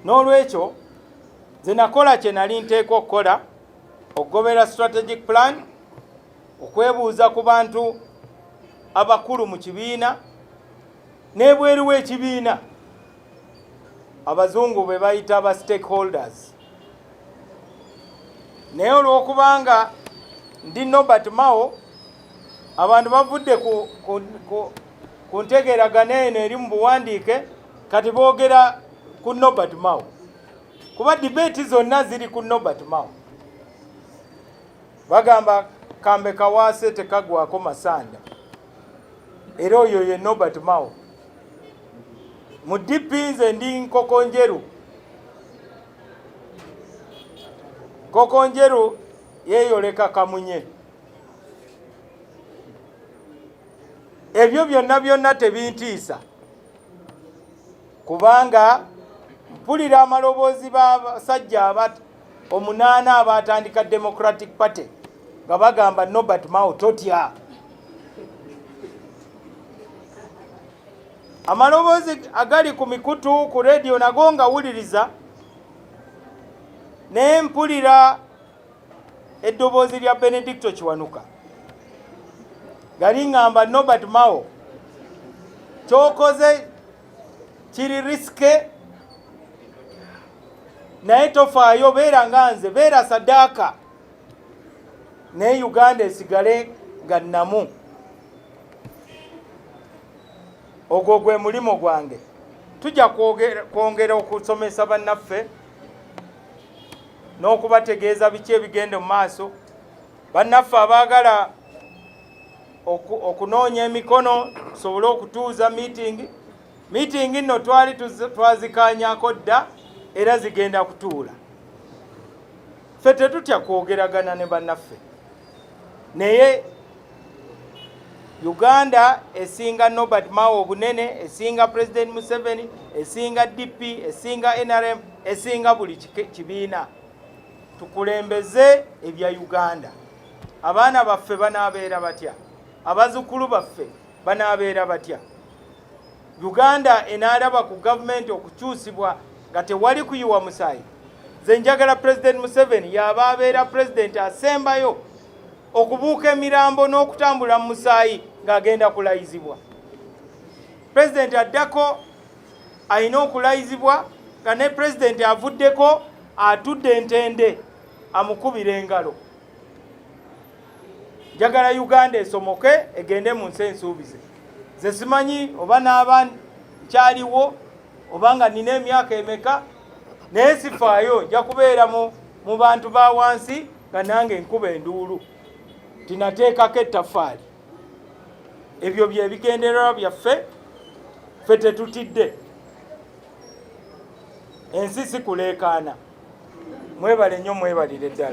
n'olwekyo nze nakola kye nali nteekwa okukola okugobera strategic plan okwebuuza ku bantu abakulu mu kibiina n'ebweru w'ekibiina abazungu be bayita ba stakeholders naye olw'okubanga ndi nobert mao abantu bavudde ku, ku, ku, ku ntegeragana eno eri mu buwandiike kati boogera ku Nobert Mao kuba debate zonna ziri ku Nobert Mao bagamba kambe kawaase tekagwako masanda era oyo ye Nobert Mao mu DP nze ndi nkoko njeru nkoko njeru yeyoleka kamunye ebyo byonna byonna tebintiisa kubanga mpulira amaloboozi b'abasajja abat omunaana abaatandika democratic party nga bagamba nobert mao totya amaloboozi agali ku mikutu ku rediyo nago ngawuliriza ne mpulira eddoboozi lya benedicto kiwanuka nga liŋŋamba nobert mao kyokoze kiri risike naye tofaayo beera nga nze beera sadaaka naye uganda esigale nga nnamu ogwo gwe mulimu gwange tujja kwongera okusomesa bannaffe n'okubategeeza biki ebigenda mu maaso bannaffe abaagala okunoonya emikono tusobole okutuuza miitingi miitingi nno twali twazikaanyako dda era zigenda kutuula ffe tetutya kwogeragana ne bannaffe naye Uganda esinga Norbert Mao obunene, esinga President Museveni, esinga DP, esinga NRM, esinga buli kibiina. Tukulembeze ebya Uganda. Abaana baffe banaabeera batya? Abazukkulu baffe banaabeera batya? Uganda enaalaba ku gavumenti okukyusibwa nga tewali kuyiwa musaayi. Nze njagala President Museveni yaaba abeera president asembayo okubuuka emirambo n'okutambula mu musaayi ng'agenda kulayizibwa pulezidenti addako alina okulayizibwa nga ne pulezidenti avuddeko atudde entende amukubira engalo njagala uganda esomoke egende mu nsi ensuubize ze simanyi oba n'aba kyaliwo oba nga nina emyaka emeka naye sifaayo nja kubeera mu bantu ba wansi nga nange nkuba enduulu tinateekako ettafaali ebyo byebigendererwa byaffe ffe tetutidde ensi sikuleekaana mwebale nnyo mwebalire ddala